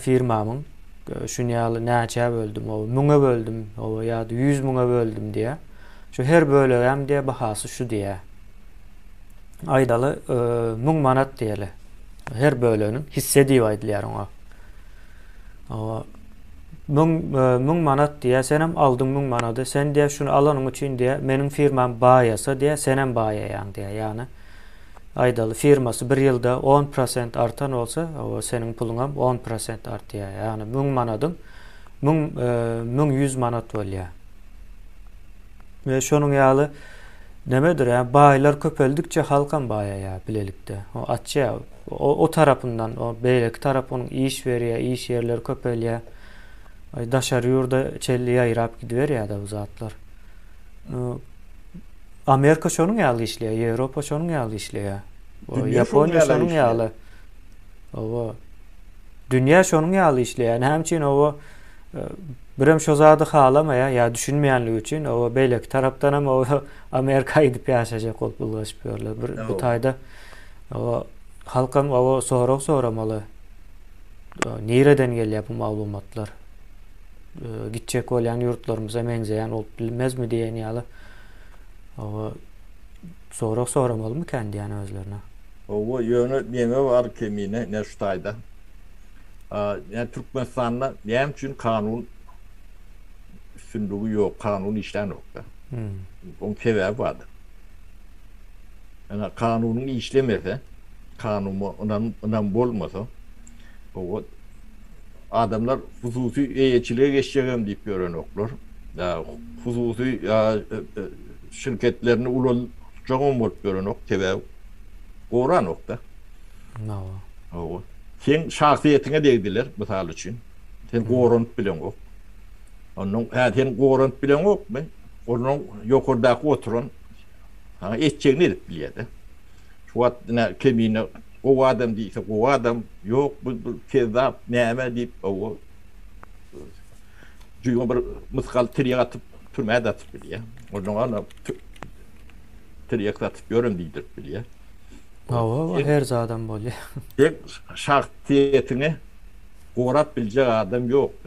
Firmamyň şun ýaly näçä böldüm, oba, müňe böldüm, oba, ýa-da ýüz müňe böldüm diýýär. Şu her bölegem diýýär, bahasy şu diýýär. Aýdaly, müň manat diýeli. Her böleginiň hisse diýip aýdylýar oňa. Oba, müň, müň manat diýýär, senem aldyň müň manady. Sen diýýär, şuny alanyň üçin diýýär, meniň firmam baýasa diýýär, senem baýaýaň diýýär. Ýagny, Aýdaly, firmasy bir ýylda on prosent artan bolsa, oba seniň puluňam on prosent artýar. Ýagny müň manadyň müň müň ýüz manat bolýar. We şonuň ýaly nemedir, ýa baýlar köpeldikçe halkam baýaýar bilelikde. O açýar. O, o tarapyndan, o beýleki tarap onuň iş berýär, iş ýerleri köpelýär. Daşary ýurda çenli ýaýrap gidiberýär-de bu zatlar. Amerika şonuň ýaly işleýär, Ýewropa şonuň ýaly işleýär. Ýaponiýa şonuň ýaly. Owa. Dünýä şonuň ýaly işleýär. Näme üçin owa e, birem şo zady halamaýar ýa düşünmeýänligi üçin owa beýleki tarapdan hem owa Amerika gidip ýaşaýjak bolup ulgaşyp ýörler. Bir bu taýda owa halkam owa sorag soramaly. Nireden gelýär bu maglumatlar? gitjek bolýan ýurtlarymyza meňzeýän bolup bilmezmi diýen ýaly sorag soramalymykän diýýän özlerine. Hawa, ýöne neňe bar kemine Neştaýda? Ýa Türkmenistanda näme üçin kanun üstünligi ýok, kanun işlänok-da? Oň sebäbi bardyr. Ýa kanunyň işlemese, kanuma ynam bolmasa, hawa, Adamlar hususy eýeçilige geçjegem diýip ýörenoklar. Hususy şirketlerini ulaltjagam bolup ýörenok, sebäbi goranok-da. Hawa. Hawa. Seň şahsyýetiňe degdiler, mysal üçin. Sen goranyp bileňok. Onnoň, hä, sen goranyp bileňokmy? Onnoň ýokardaky oturan saňa etjegini edip bilýär-de. Şu wagt ine kemine. Gowy adam diýse gowy adam, ýok bu bir kezzap, näme diýip owo jüýňe bir mysgal tirýek atyp türmä-de atyp bilýär. Onnoň ana tirýek satyp ýörün diýdirip bilýär. Hawa, bu her zadam bolýar. Şahsyýetiňi gorap biljek adam ýok-da.